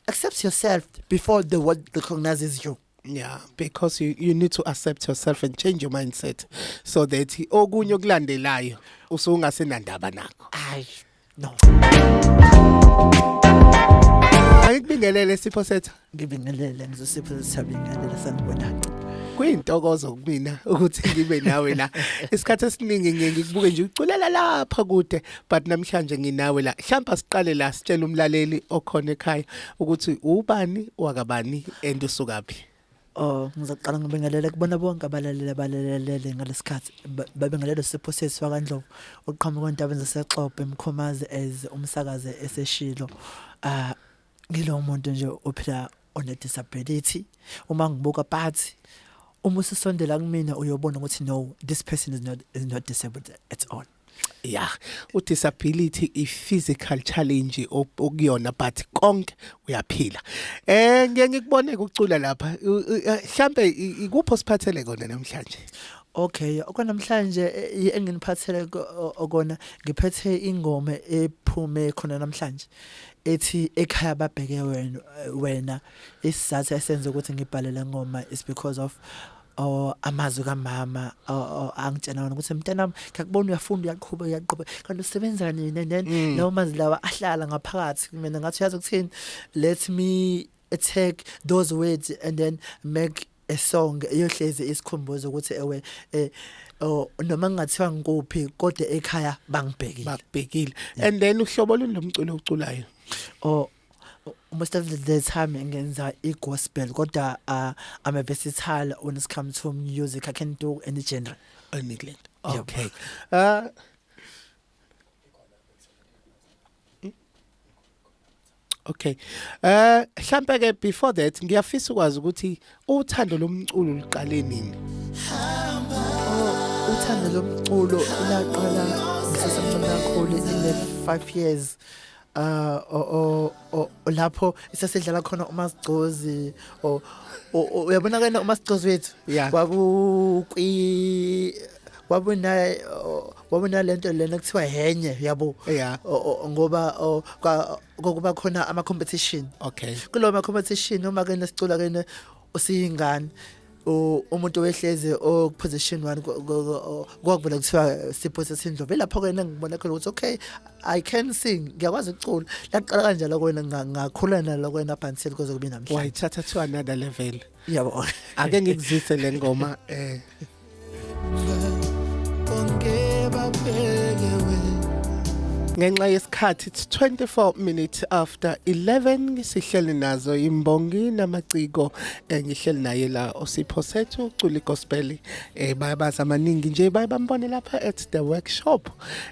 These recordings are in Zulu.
accept yourself before the world recognizes you yeah because you, you need to accept yourself and change your mindset so that okunye okulandelayo usungasenandaba nakho ay no Ayikubingelele sipho sethu ngibingelele ngizosipho sesabingelele sanibona kuyintokozo kumina ukuthi ngibe nawe la isikhathi esiningi ngiye ngikubuke nje uculela lapha kude but namhlanje nginawe la hlampa siqale la sitshela umlaleli okhona ekhaya ukuthi ubani wakabani and usukaphi Oh ngizaqala ngibingelele kubona bonke abalalele balalele ngalesikhathi babengelele siphosisi wakandlovu oqhamuka endabeni zasexobe emkhomazi as umsakaze eseshilo ah ngilo muntu nje ophila one disability uma ngibuka phathi uma usisondela kumina uyobona ukuthi no this person is not is not disabled at all yeah u disability i physical challenge okuyona but konke uyaphila eh ngeke ngikubone ukucula lapha mhlambe ikupho siphathele kona namhlanje Okay, okwanamhlanje eh, eh, enginiphathele okona ngiphethe ingoma ephume khona namhlanje ethi ekhaya babheke wena wena isizathu esenze ukuthi ngibhale lengoma is because of Oh amazwi kamama oh, oh, angitshena wona ukuthi mntanami ngiyakubona uyafunda uyaqhubeka uyaqhubeka kanti usebenza nini then mm. lawo mazwi lawa ahlala ngaphakathi mina ngathi uyazi ukuthini let me take those words and then make a song eyohlezi isikhumbuzo ukuthi ewe eh oh noma ngathiwa ngikuphi kodwa ekhaya bangibhekile bakubhekile and then uhlobo lomculo oculayo oh most of the time ngenza i-gospel kodwa uh, i'm a versatile when it comes to music i can do any genre any genre oh. okay uh, Okay. Eh mhlambe ke before that ngiyafisa ukwazi ukuthi uthando lomculo liqale nini? Oh, uthando lomculo laqala ngisesemncane kakhulu in the 5 years. Ah o o o lapho sesidlala khona umasigcozi o o- uyabona kana umasigcozi wethu Yeah. waku kwi wabona o- wabona lento lena kuthiwa henye yabo Yeah. O- o- ngoba o, kwa- kwakuba khona ama competition Okay. kulowo ma competition uma kene sicula kene usiyingane umuntu wehlezi okuposition 1 kwakuvela kuthiwa siphose sindlo velapho ke ngibona khona ukuthi okay i can sing ngiyakwazi ukucula laqala kanjalo kwena ngakhula nalo kwena bansil kuze kube namhlanje wayithatha to another level yabo ake ngikuzise lengoma eh ngenxa yesikhathi it's 24 minutes after 11 sihleli nazo imbongi namaciko eh, ngihleli naye la osipho sethu uculi gospel eh bayabaza amaningi nje baye bambone lapha at the workshop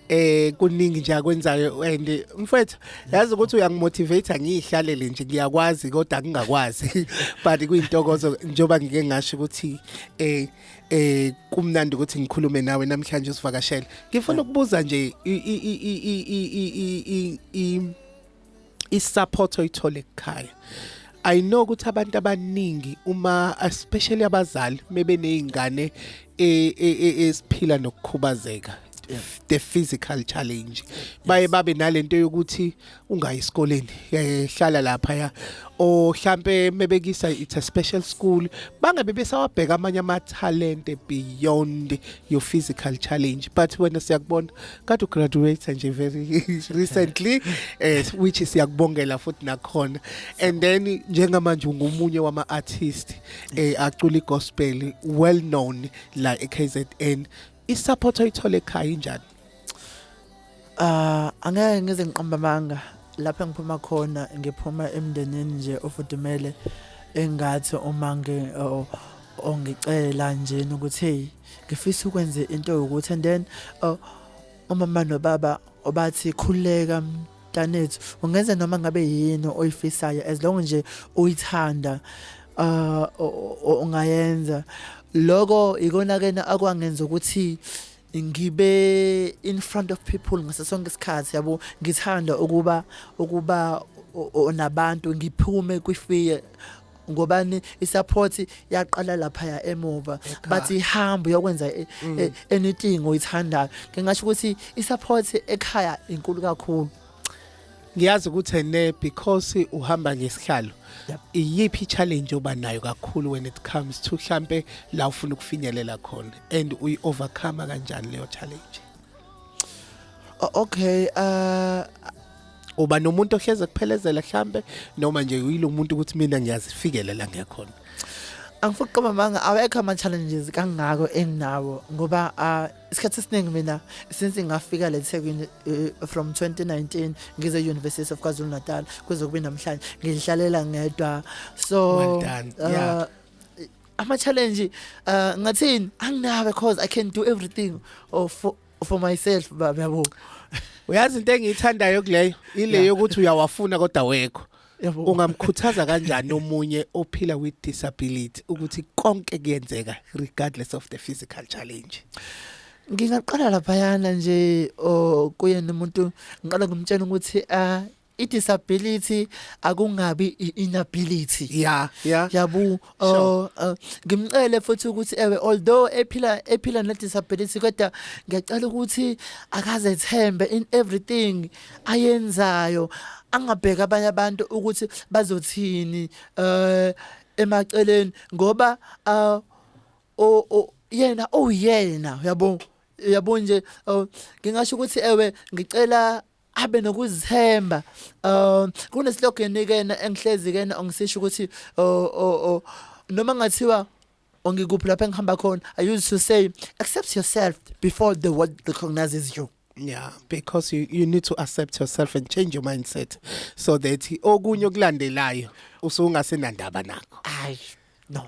eh kuningi nje akwenzayo and mfethu yazi ukuthi uyangimotivate ngiyihlalele nje ngiyakwazi kodwa ngingakwazi but kuyintokozo njoba ngike ngasho ukuthi eh eh kumnandi ukuthi ngikhulume nawe namhlanje usivakashela ngifuna ukubuza nje i support oyithole ekhaya i know ukuthi abantu abaningi uma especially abazali mebe nezingane e, e, e, esiphila nokukhubazeka the physical challenge baye babe nalento yokuthi ungayi esikoleni eh, hlala lapha ya o hlampe mebekisa it's a special school bangabe besawabheka amanye ama talent beyond your physical challenge but wena siyakubona kade ugraduate nje very recently eh which siyakubongela futhi nakhona and then njengamanje ungumunye wama artist eh acula igospel well known la eKZN isupport oyithola ekhaya injani Ah, angeke ngize ngiqambe amanga lapho engiphuma khona ngiphuma emndenini nje ofudumele engathi uma ngi o- ongicela njena ukuthi hey ngifisa ukwenze into yokuthi and then oh, umama nobaba obathi khuleka mntanethu ungenza noma ngabe yini oyifisayo as long nje uyithanda ah, o- o- ungayenza loko ikona kena akwangenza ukuthi ngibe in front of people ngaso sonke isikhathi yabo ngithanda ukuba ukuba nabantu ngiphume kwifear ngobani isupport yaqala lapha ya emuva bathi ihamba uyokwenza e, mm. e, anything oyithandayo ngingasho ukuthi isupport ekhaya inkulu kakhulu ngiyazi ukuthi ene because uhamba ngesihlalo iyiphi challenge oba nayo kakhulu when it comes to mhlambe la ufuna ukufinyelela khona and uyi overcome kanjani leyo challenge okay uh uba nomuntu ohleze kuphelezela mhlambe noma nje uyilomuntu ukuthi mina ngiyazifikelela ngekhona angifuni ukuqoma amanga awekho ama-challenges kangako enginawo ngoba uh, isikhathi esiningi mina since ngafika le Thekwini uh, from 2019 ngize University of KwaZulu Natal kuze kube namhlanje ngihlalela ngedwa so well done. Uh, yeah ama challenge uh ngathini anginawo because i can do everything or for, for myself baba yabo uyazi into engiyithandayo kuleyo ile yokuthi uyawafuna kodwa wekho Yabo. ungamkhuthaza kanjani omunye ophila with disability ukuthi konke kuyenzeka regardless of the physical challenge Ngingaqala laphayana nje o kuyena umuntu ngiqala ngimtshela ukuthi ah i disability akungabi i inability. yeah yeah Yabu Oh, uh, ngimcele futhi ukuthi ewe although ephila ephila ne disability kodwa ngiyacela ukuthi akazethembe in everything ayenzayo angabheka abanye abantu ukuthi bazothini eh emaceleni ngoba uh, o, o yena oyena oh, yabo yabo nje oh, ngingasho ukuthi ewe ngicela abe nokuzithemba um kune slogan ke engihlezi ke ongisisho ukuthi noma ngathiwa ongikuphi lapho engihamba khona i used to say accept yourself before the world recognizes you yeah because you, you need to accept yourself and change your mindset so that okunye okulandelayo usungasenandaba nakho ayi no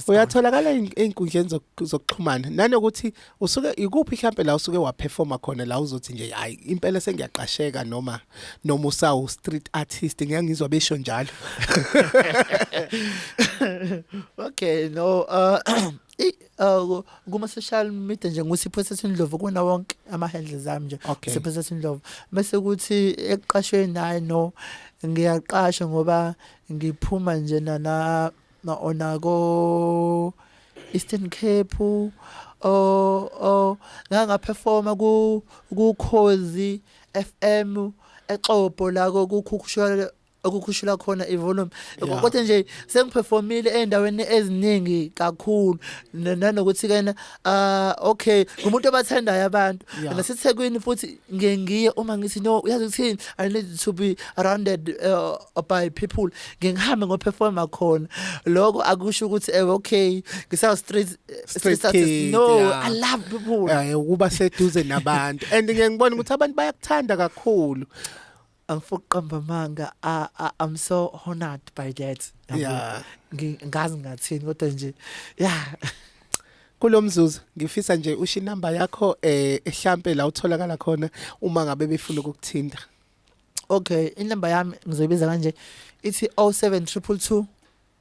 uyatholakala einkundleni zokuxhumana nanokuthi usuke ikuphi mhlambe la usuke waperforma khona la uzothi nje hayi impela sengiyaqasheka noma noma usawu street artist ngiyangizwa besho njalo okay no uh, uh kuma social media nje ngusipho sesindlovu kuna wonke ama handles ami nje sipho sesindlovu bese kuthi ekuqashweni naye no ngiyaqasha ngoba Ngiphuma nje nana ona ko Eastern Cape o o ngangaperforma ku kukhozi FM exopo la kokukhushwa okukhushula khona ivolume Yeah. kodwa nje sengiperformile ezindaweni eziningi kakhulu N- nanokuthi kena Ah okay ngumuntu obathandayo abantu Yeah. naseThekwini futhi ngiye ngiye uma ngithi no uyazi ukuthini I need to be surrounded uh, by people ngiye ngihambe ngo performer khona lokho akusho ukuthi eh okay ngisawu street Street artist. kid, no yeah. I love people Eh ukuba seduze nabantu and ngiyengibona ukuthi abantu bayakuthanda kakhulu angifuni ukuqamba amanga I, I, i'm so honored by that Yabo. Yeah. Ngi- ngazi ngathini kodwa nje ya kulomzuzu ngifisa nje usho inamba yakho eh ehlampe la utholakala khona uma ngabe befuna ukukuthinta okay inamba yami ngizoyibiza kanje ithi 07222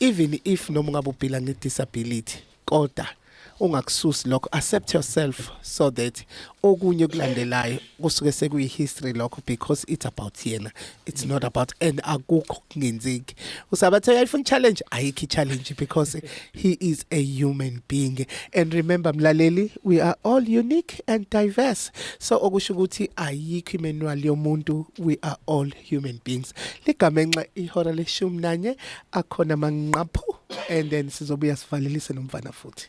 even if noma ungabe uphila nge disability kodwa ungakususi lokho accept yourself so that okunye kulandelayo kusuke sekuyi history lokho because it's about yena it's not about and akukho kungenzeki usabathe uyayifuna challenge ayikho challenge because he is a human being and remember mlaleli we are all unique and diverse so okusho ukuthi ayikho imanual yomuntu we are all human beings ligamenxe ihora leshumi nanye akhona manqaphu and then sizobuya sivalelise nomfana futhi